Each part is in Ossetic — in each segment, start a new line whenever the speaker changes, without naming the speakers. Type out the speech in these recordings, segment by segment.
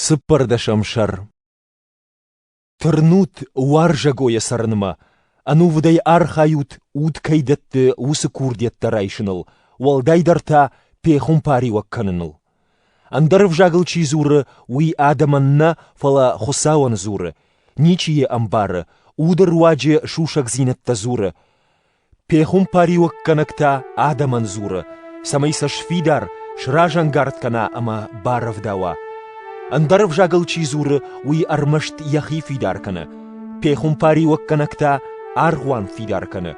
Цыппӕрдӕсӕм сӕр Тырнут уарзӕгойӕ цӕрынмӕ, ӕнувыдӕй архайут уд кӕй дӕтты уыцы курдиӕттӕ райсыныл, уӕлдайдӕр та пехуымпариуӕг кӕныныл. Ӕндӕр ӕвзагыл чи дзуры, уый адӕмӕн нӕ, фӕлӕ Хуыцауӕн дзуры, ничи йӕ ӕмбары, уды руаджы сусӕгдзинӕдтӕ дзуры. Пехуымпариуӕггӕнӕгтӕ адӕмӕн дзуры, цӕмӕй сӕ сфидар, сразӕнгард кӕна ӕмӕ барӕвдауа. Ӕндӕр ӕвзагыл чи дзуры, уый ӕрмӕст йӕхи фидар кӕны, пехуымпариуӕггӕнӕгтӕ аргъуан фидар кӕны.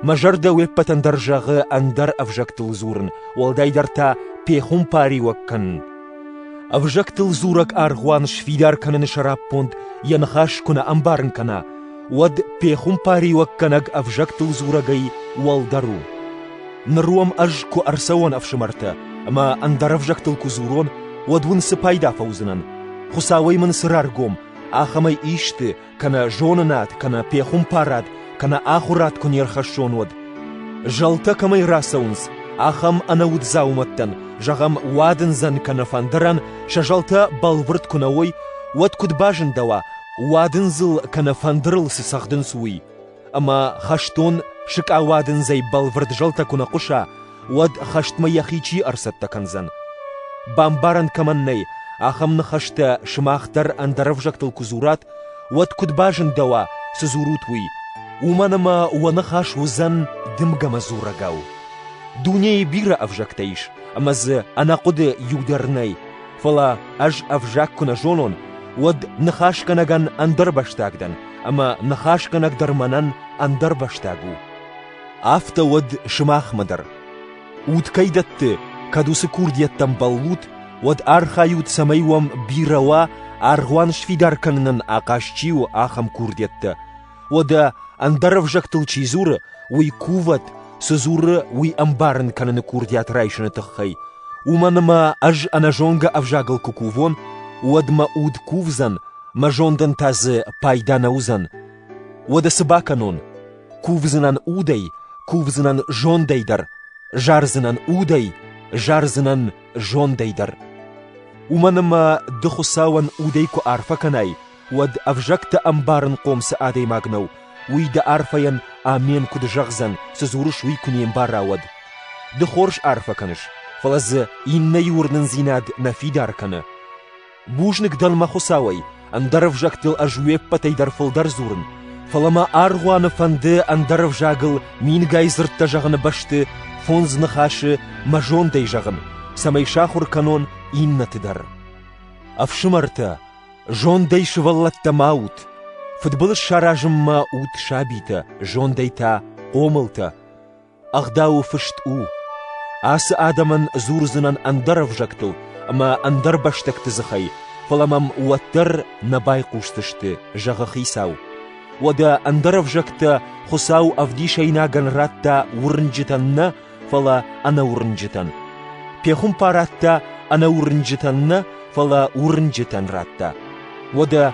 Мӕ зӕрдӕ уе ппӕтӕн дӕр зӕгъы ӕндӕр ӕвзӕгтыл дзурын, уӕлдайдӕр та пехуымпариуӕг кӕнын. Ӕвзӕгтыл дзурӕг аргъуан сфидар кӕныны сӕраппонд йӕ ныхас куы нӕ ӕмбарын кӕна, уӕд пехуымпариуӕггӕнӕг ӕвзӕгтыл дзурӕгӕй уӕлдӕр у. Ныр уӕм ӕз куы ӕрцӕуон ӕфсымӕртӕ ӕмӕ ӕндӕр ӕвзӕгтыл куы дзурон, уӕд уын цы пайда фӕуыдзынӕн? Хуыцауӕй мын цы раргом, ахӕмӕй исты, кӕнӕ зонынад, кӕнӕ пехуымпарад, кӕнӕ ахуырад куы не рхӕссон, уӕд. Зӕлтӕ кӕмӕй рацӕуынц, ахӕм ӕнӕуд дзаумӕттӕн, зӕгъӕм, уадындзӕн кӕнӕ фӕндырӕн сӕ зӕлтӕ бӕлвырд куы нӕ уой, уӕд куыд базындӕуа, Уадындзыл кӕнӕ фӕндырыл цы цӕгъдынц, уый. Ӕмӕ хӕстон сыкъа уадындзӕй бӕлвырд зӕлтӕ куы нӕ хъуыса, уӕд хӕстмӕ йӕхи чи ӕрцӕттӕ кӕндзӕн? Бамбарӕн кӕмӕн нӕй, ахӕм ныхӕстӕ сымах дӕр ӕндӕр ӕвзӕгтыл куы дзурат, уӕд куыд базындӕуа, цы дзурут, уый. Уымӕн ӕмӕ уӕ ныхас уыдзӕн дымгӕмӕ дзурӕгау. Дунейы бирӕ ӕвзӕгтӕ ис, ӕмӕ дзы ӕнӕхъуыды иу дӕр нӕй. Фӕлӕ ӕз ӕвзаг куы нӕ зонон, уӕд ныхасгӕнӕгӕн ӕндӕрбӕстаг дӕн, ӕмӕ ныхасгӕнӕг дӕр мӕнӕн ӕндӕрбӕстаг у. Афтӕ уӕд сымахмӕ дӕр. Уд кӕй дӕтты, кӕд уыцы курдиӕттӕм бӕллут, уӕд архайут, цӕмӕй уӕм бирӕ уа, аргъуан сфидар кӕнынӕн ахъаз чи у, ахӕм курдиӕттӕ, Уӕдӕ, ӕндӕр ӕвзӕгтыл чи дзуры, уый кувӕд, цы дзуры, уый ӕмбарын кӕныны курдиат райсыны тыххӕй. Уымӕн ӕмӕ ӕз ӕнӕзонгӕ ӕвзагыл куы кувон, уӕд мӕ уд кувдзӕн, мӕ зондӕн та дзы пайда нӕ уыдзӕн. Уӕдӕ цы бакӕнон? Кувдзынӕн удӕй, кувдзынӕн зондӕй дӕр, зардзынӕн удӕй, зардзынӕн зондӕй дӕр. Уымӕн ӕмӕ ды Хуыцауӕн удӕй куы арфӕ кӕнай, уӕд ӕвзӕгтӕ ӕмбарынхъом цы адӕймаг нӕу, уый дӕ арфӕйӕн амен куыд зӕгъдзӕн, цы дзурыс, уый куы не мбара, уӕд. Ды хорз арфӕ кӕныс, фӕлӕ дзы иннӕйы уырнындзинад нӕ фидар кӕны. Бузныг дӕн мӕ Хуыцауӕй, ӕндӕр ӕвзӕгтыл ӕз уе ппӕтӕй дӕр фылдӕр дзурын, фӕлӕ мӕ аргъуаны фӕнды ӕндӕр ӕвзагыл мингай дзырдтӕ зӕгъыны бӕсты фондз ныхасы мӕ зондӕй зӕгъын, цӕмӕй сахуыр кӕнон иннӕты дӕр. Ӕфсымӕртӕ, Зондӕй сывӕллӕттӕ ма ут! Фыдбылыз саразынмӕ ут сабитӕ, зондӕй та хъомылтӕ. Ӕгъдауы фыст у: ацы адӕмӕн дзурдзынӕн ӕндӕр ӕвзӕгтыл ӕмӕ ӕндӕр бӕстӕгты дзыхӕй, фӕлӕ мӕм уӕддӕр нӕ байхъусдзысты, зӕгъы хицау. Уӕдӕ ӕндӕр ӕвзӕгтӕ Хуыцау ӕвдисӕйнагӕн радта уырнджытӕн нӕ, фӕлӕ ӕнӕуырнджытӕн. Пехуымпар радта ӕнӕуырнджытӕн нӕ, фӕлӕ уырнджытӕн радта. Уӕдӕ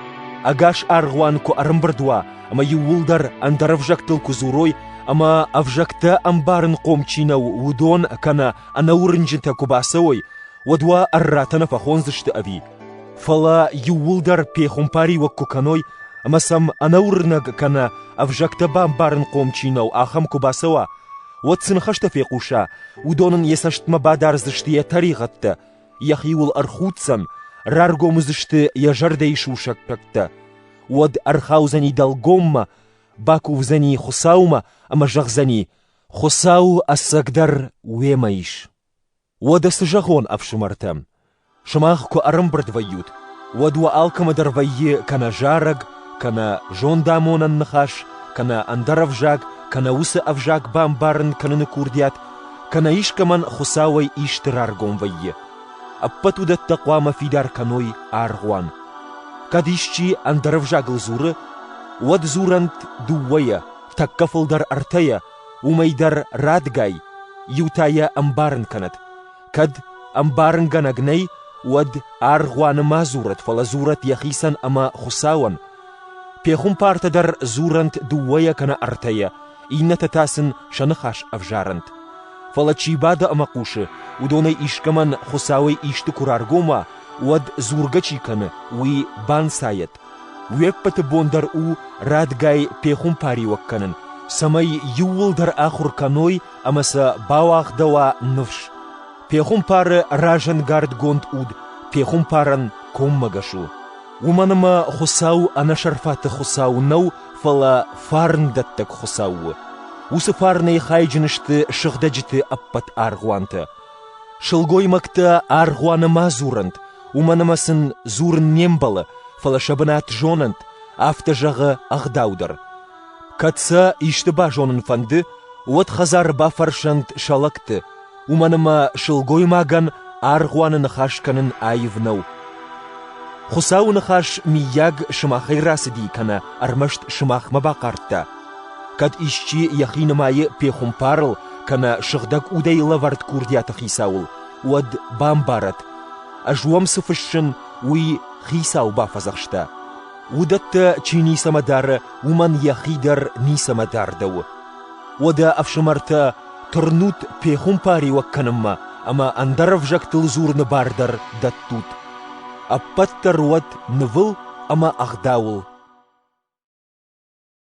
ӕгас аргъуан куы ӕрӕмбырд уа, ӕмӕ иууылдӕр ӕндӕр ӕвзӕгтыл куы дзурой, ӕмӕ ӕвзӕгтӕ ӕмбарынхъом чи нӕу, уыдон кӕнӕ ӕнӕуырнджытӕ куы бацӕуой, уӕд уӕ ӕрратӕ нӕ фӕхондзысты ӕви? Фӕлӕ иууылдӕр пехуымпариуӕг куы кӕной, ӕмӕ сӕм ӕнӕуырнӕг кӕнӕ ӕвзӕгтӕ бамбарынхъом чи нӕу, ахӕм куы бацӕуа, уӕд цы ныхӕстӕ фехъуса, уыдон ын йӕ цӕстмӕ бадардзысты йӕ тӕригъӕдтӕ, йӕхиуыл ӕрхуддзӕн, раргом уыдзысты йӕ зӕрдӕйы сусӕггӕгтӕ. Уӕд ӕрхаудзӕни дӕлгоммӕ, бакувдзӕни Хуыцаумӕ ӕмӕ зӕгъдзӕни: «Хуыцау ӕцӕгдӕр уемӕ ис». Уӕдӕ цы зӕгъон, ӕфсымӕртӕ? Сымах куы ӕрӕмбырд вӕййут, уӕд уӕ алкӕмӕдӕр вӕййы кӕнӕ зарӕг, кӕнӕ зондамонӕн ныхас, кӕнӕ ӕндӕр ӕвзаг, кӕнӕ уыцы ӕвзаг бамбарын кӕныны курдиат, кӕнӕ искӕмӕн Хуыцауӕй исты раргом вӕййы. Ӕппӕт уыдӕттӕ хъуамӕ фидар кӕной аргъуан. Кӕд исчи ӕндӕр ӕвзагыл дзуры, уӕд дзурӕнт дыууӕйӕ, тӕккӕ фылдӕр ӕртӕйӕ, Уымӕй дӕр радгай, иу та йӕ ӕмбарын кӕнӕд: кӕд ӕмбарынгӕнӕг нӕй, уӕд аргъуаны ма дзурӕд, фӕлӕ дзурӕд йӕхицӕн ӕмӕ Хуыцауӕн. пехуымпартӕ дӕр дзурӕнт дыууӕйӕ кӕнӕ ӕртӕйӕ, иннӕтӕ та сын сӕ ныхас ӕвзарӕнт. Фӕлӕ чи бады ӕмӕ хъусы, уыдонӕй искӕмӕн Хуыцауӕй исты куы раргом уа, уӕд дзургӕ чи кӕны, уый банцайӕд. Уе ппӕты бон дӕр у радгай пехуымпариуӕг кӕнын, цӕмӕй иууылдӕр ахуыр кӕной ӕмӕ сӕ бауагъдӕуа ныфс. Пехуымпары разӕнгардгонд уд пехуымпарӕн коммӕгӕс у. Уымӕн ӕмӕ Хуыцау ӕнӕсӕрфаты Хуыцау нӕу, фӕлӕ фарндӕттӕг Хуыцау у. Уыцы фарнӕй хайджын сты сыгъдӕджыты ӕппӕт аргъуантӕ. Сылгоймӕгтӕ аргъуаны ма дзурӕнт, уымӕн ӕмӕ сын дзурын не мбӕлы, фӕлӕ сӕ бынат зонӕнт, афтӕ зӕгъы ӕгъдау дӕр. Кӕд сӕ исты базонын фӕнды, уӕд хӕдзары бафӕрсӕнт сӕ лӕгты, уымӕн ӕмӕ сылгоймагӕн аргъуаны ныхас кӕнын аив нӕу. Хуыцауы ныхас, миййаг, сымахӕй рацыди кӕнӕ ӕрмӕст сымахмӕ бахъардта, Кӕд исчи йӕхи нымайы пехуымпарыл кӕнӕ сыгъдӕг удӕй лӕвӕрд курдиаты хицауыл, уӕд бамбарӕд, ӕз уӕм цы фыссын, уый хицау бафӕдзӕхста. Уыдӕттӕ чи ницӕмӕ дары, уымӕн йӕхи дӕр ницӕмӕ дардӕуы. Уӕдӕ, ӕфсымӕртӕ, тырнут пехуымпариуӕг кӕнынмӕ ӕмӕ ӕндӕр ӕвзӕгтыл дзурыны бар дӕр дӕттут. Ӕппӕт дӕр уӕд нывыл ӕмӕ ӕгъдауыл.